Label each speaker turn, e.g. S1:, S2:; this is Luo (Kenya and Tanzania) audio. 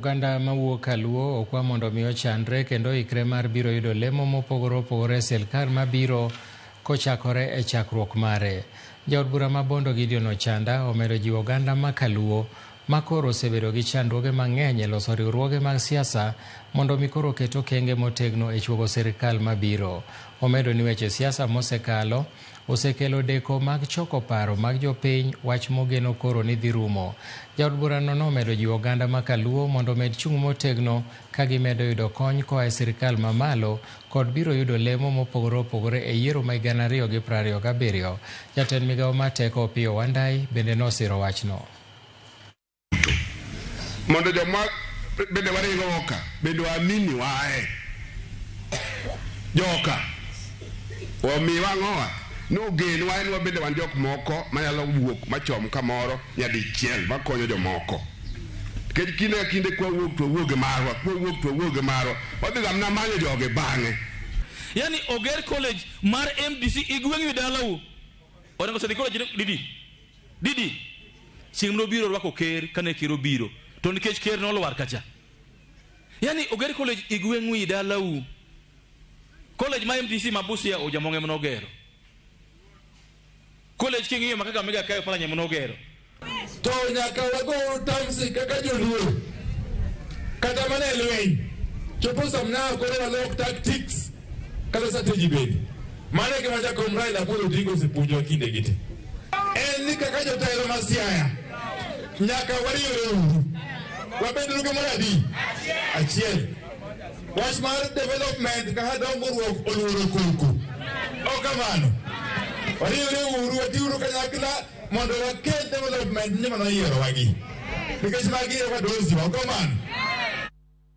S1: Oganda mawuok Kaluo okwa mondo mi ochanre kendo ikre mar biro yudo lemo mopogore opogore e sirkal mabiro kochakore e chakruok mare. Jaod bura ma Bondo Gideon Ochanda omedo jiwo oganda ma Kaluo makoro osebedo gi chandruoge mang'eny e loso riwruoge mag siasa mondo mi koro oket okenge motegno e chuogo sirkal mabiro. Omedo ni weche siasa mosekalo osekelo deko mag choko paro mag jopiny, wach mogeno koro ni dhi rumo. Jaod burano nomedo jiwo oganda ma Kaluo mondo omed chung' motegno ka gimedo yudo kony koa e sirkal mamalo kod biro yudo lemo mopogore opogore e yiero ma gana ariyo gi prariyo gabiriyo. Jatend migawo mar teko Opiyo Wandayi bende nosiro wachno.
S2: mondo joma bende waringo oka bende waamini wae joka omi wang'owa ni ogen wa en wabende wan jok moko manyalo wuok machom kamoro nyadichiel makonyo jomoko nikech kinde ka kinde kwawuok to wawuoge marwa kwawuok to wawuoge marwa wadhi ga mna manyo joge bang'e yani
S3: oger college mar mdc igweng'ni dalau onego sedi college didi Didi, chieng' mane obiro rwako ker kane ker obiro to nikech ker ne olwar kacha. Yani oger college e gweng'u i dalau. College ma MTC ma Busia Ojamong' ema nogero. College king'iyo ma Kakamega kae Oparanya ema nogero. To
S4: nyaka wago tamsi kaka joluo kata mana e lweny chopo samna koro walok tactics kata strategy bende. Mano e gima Jakom Raila Amolo Odinga osepuonjowa kinde gi te. En ni kaka jotelo ma Siaya nyaka wariwre uru. Wabed uru gimoro adi? Achiel. Wach mar development kaka dongruok oluoro koko. Ok kamano. Wariwre uru, watiuru kanyakla mondo wakel development ni mano yierowagi. Nikech magi e wadosi wa, ok kamano?